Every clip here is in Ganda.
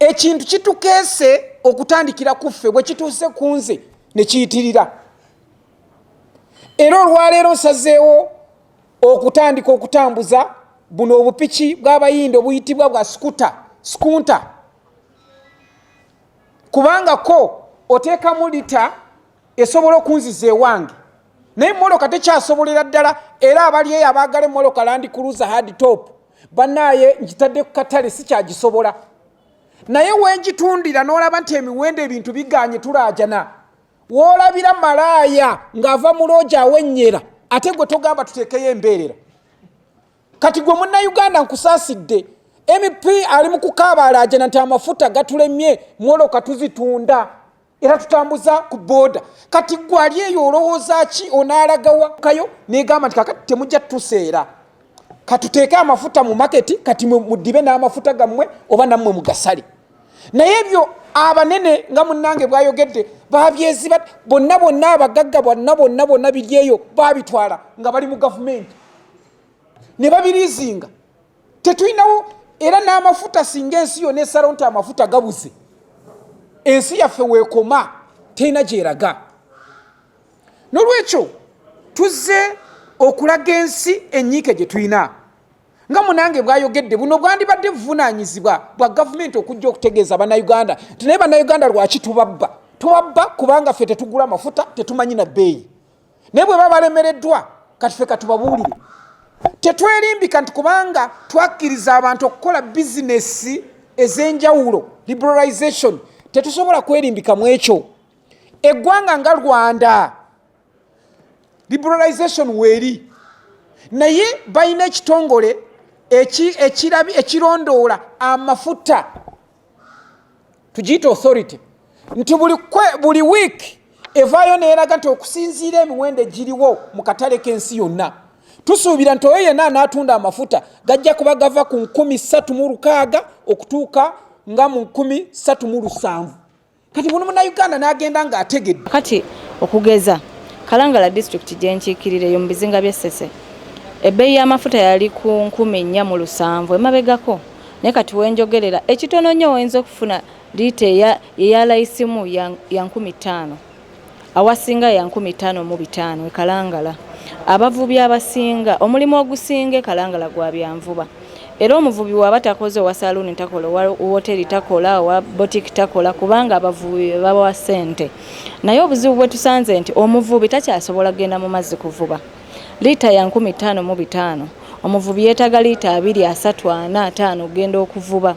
ekintu kitukeese okutandikira ku ffe bwe kituuse ku nze ne kiyitirira era olwaleero nsazeewo okutandika okutambuza buno obupiki bw'abayindi obuyitibwa bwa skuta skunta kubanga ko oteekamu lita esobola okunziza ewange naye moloka tekyasobolera ddala era abali eyo abaagala emoloka landi kuluza hard top banaaye ngitadde ku katale sikyagisobola naye wengitundira n'olaba nti emiwendo ebintu biganye tulaajana woolabira malaaya ng'ava mu looja awennyera ate gwe togamba tuteekeyo embeerera kati gwe munnayuganda nkusaasidde mp ali mu kukaabaalajana nti amafuta gatulemye mwoloka tuzitunda era tutambuza ku booda kati gwe ali eyo olowooza ki onaalagawakayo negamba nti kakati temujja tuseera katuteeke amafuta mu maketi kati mudibe n'amafuta gammwe oba nammwe mugasale naye ebyo abanene nga munange bwayogedde babyeziba bonna bonna abagagga bonna bonna bonna biryeyo babitwala nga bali mu gavumenti ne babirizinga tetulinawo era n'amafuta singa ensi yona esalawo nti amafuta gabuze ensi yaffe weekoma terina gyeraga nolwekyo tuzze okulaga ensi enyiike gye tulina nga munange bwayogedde buno bwandibadde buvunaanyizibwa bwa gavumenti okujja okutegeeza bannayuganda nti naye bannayuganda lwaki tubabba tubabba kubanga ffe tetugula mafuta tetumanyi na bbeeyi naye bwe baba balemereddwa kati ffe katubabuulire tetwerimbika nti kubanga twakkiriza abantu okukola bizinesi ez'enjawulo liberalization tetusobola kwerimbika mu ekyo eggwanga nga rwanda liberalization weeri naye balina ekitongole ekirabi ekirondoola amafuta tugiyita authority nti buli wiiki evaayo neeraga nti okusinziira emiwendo egiriwo mu katale k'ensi yonna tusuubira nti oyo yenna anaatunda amafuta gajja kuba gava ku nkumi satu mu lukaaga okutuuka nga mu nkumi satu mu lusanvu kati buli munauganda n'agenda ng'ategedde kati okugeza kalangala disitulikiti gyenkiikirira eyo mu bizinga by'e ssese ebbeeyi y'amafuta yali ku nkumi nnya mu lusanvu emabegako naye kati wenjogerera ekitono nnyo oyinza okufuna liita eya layisimu ya nkumi ttaano awasinga ya nkumi ttaano mu bitaano e Kalangala. Abavubi abasinga omulimu ogusinga e Kalangala gwa byanvuba. Era omuvubi bw'aba takoze owa saluuni takola, owa wooteeri takola, owa botiki takola kubanga abavubi be babawa ssente. Naye obuzibu bwe tusanze nti omuvubi takyasobola kugenda mu mazzi kuvuba. Liita ya nkumi ttaano mu bitaano omuvubi yeetaaga liita abiri, asatu, ana, ataano okugenda okuvuba.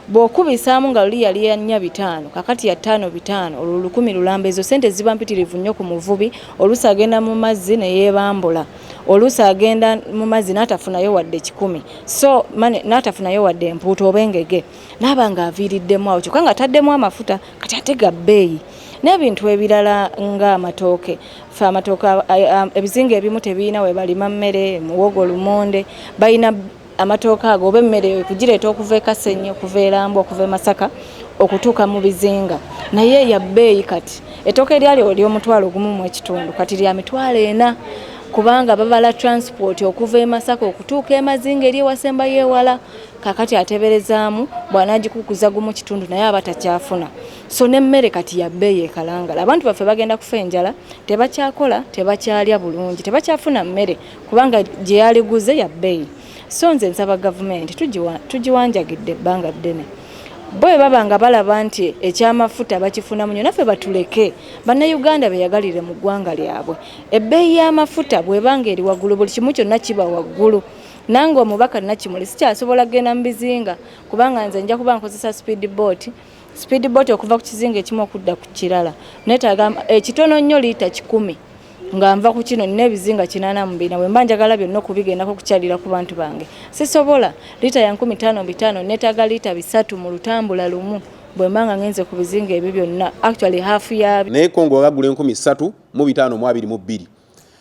Bw'okubisaamu nga luli yali ya nnya bitaano, kaakati ya ttaano bitaano, olwo lukumi lulamba. Ezo ssente ziba mpitirivu nnyo ku muvubi, oluusi agenda mu mazzi ne yeebambula, oluusi agenda mu mazzi n'atafunayo wadde kikumi, so money, n'atafunayo wadde empuuta oba engege, n'aba ng'aviiriddemu awo, kyokka ng'ataddemu amafuta, kati ate ga bbeeyi. N'ebintu ebirala ng'amatooke, ffe amatooke, ebizinga ebimu tebirina we balima mmere, muwogo, lumonde, balina. amatooke ago oba emmere eyo kugireeta okuva e Kasenyi okuva e Lambu okuva e Masaka okutuuka mu bizinga naye ya bbeeyi kati ettooke eryali ery'omutwalo ogumu mu ekitundu kati lya mitwalo ena kubanga babala transport okuva e Masaka okutuuka e Mazinga eri ewasembayo ewala kakati ateberezaamu bw'anaagikukuza gumu kitundu naye aba takyafuna so n'emmere kati ya bbeeyi ekalangala abantu baffe bagenda kufa enjala tebakyakola tebakyalya bulungi tebakyafuna mmere kubanga gye yaliguze ya bbeeyi so nze nsaba gavumenti tugiwanjagidde ebbanga ddene bo bwe baba nga balaba nti ekyamafuta bakifunamu nyo naffe batuleke bannayuganda beyagalire mu ggwanga lyabwe ebbeeyi y'amafuta bweba nga eri waggulu buli kimu kyonna kiba waggulu nange omubaka nakimuli sikyasobola kugenda mu bizinga kubanga nze nja kuba nkozesa speed boat speed boat okuva ku kizinga ekimu okudda ku kirala netaaga ekitono nnyo liita kikumi nga nva ku kino nina ebizinga kinana mu bina bwemba njagala byonna okubigendako okukyalira ku bantu bange sisobola liita ya nkumi tano bitano netaga liita bisatu mu lutambula lumu bwemba nga ngenze ku bizinga ebyo byonna actually hafu ya naye kongo wagagula enkumi satu mu bitano mu abiri mu bbiri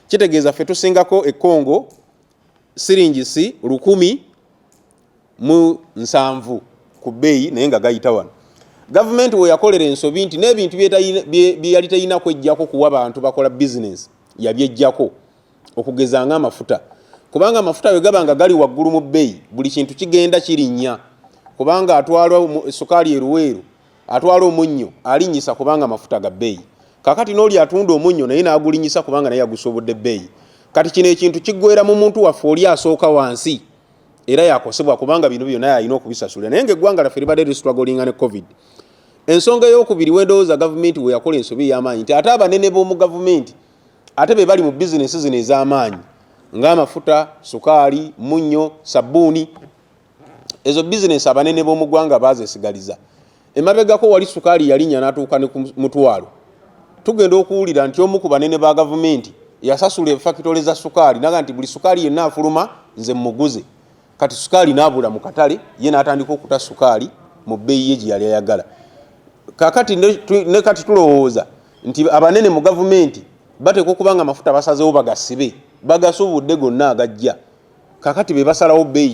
kitegeeza ffe tusingako ekongo siringi si lukumi mu nsanvu ku bbeeyi naye nga gayita wano gavumenti weyakolera ensobi nti n'ebintu byeyali terina kwejjako kuwa bantu bakola bizinesi yabyejjako okugeza nga amafuta kubanga amafuta bwe gaba nga gali waggulu mu bbeeyi buli kintu kigenda kirinnya kubanga atwala sukaali eruweeru atwala omunnyo alinnyisa kubanga amafuta ga bbeeyi kakati n'oli atunda omunnyo naye n'agulinnyisa kubanga naye yagusoobodde bbeeyi kati kino ekintu kiggwera mu muntu waffe oli asooka wansi era yakosebwa kubanga bino byona yalina okubisasula naye nga eggwanga laffe libadde listruglinga ne covid ensonga eyokubiri wendowooza gavumenti weyakola ensobi eyamaanyi nti ate abanene b'omu gavumenti ate be bali mu bizinesi zino ez'amaanyi ng'amafuta sukaali munnyo sabbuuni ezo bizinesi abanene b'omu ggwanga baazesigaliza emabegako wali sukaali yalinya n'atuuka ne ku mutwalo tugenda okuwulira nti omu ku banene ba gavumenti yasasula efakitole za sukaali naga nti buli sukaali yenna afuluma nze mmuguze kati sukaali n'abula mu katale ye n'atandika okuta sukaali mu bbeeyi ye gye yali ayagala kakati ne kati tulowooza nti abanene mu gavumenti bateekwa okuba nga amafuta basazewo bagasibe bagasubudde gonna agajja kakati be basalawo bbeeyi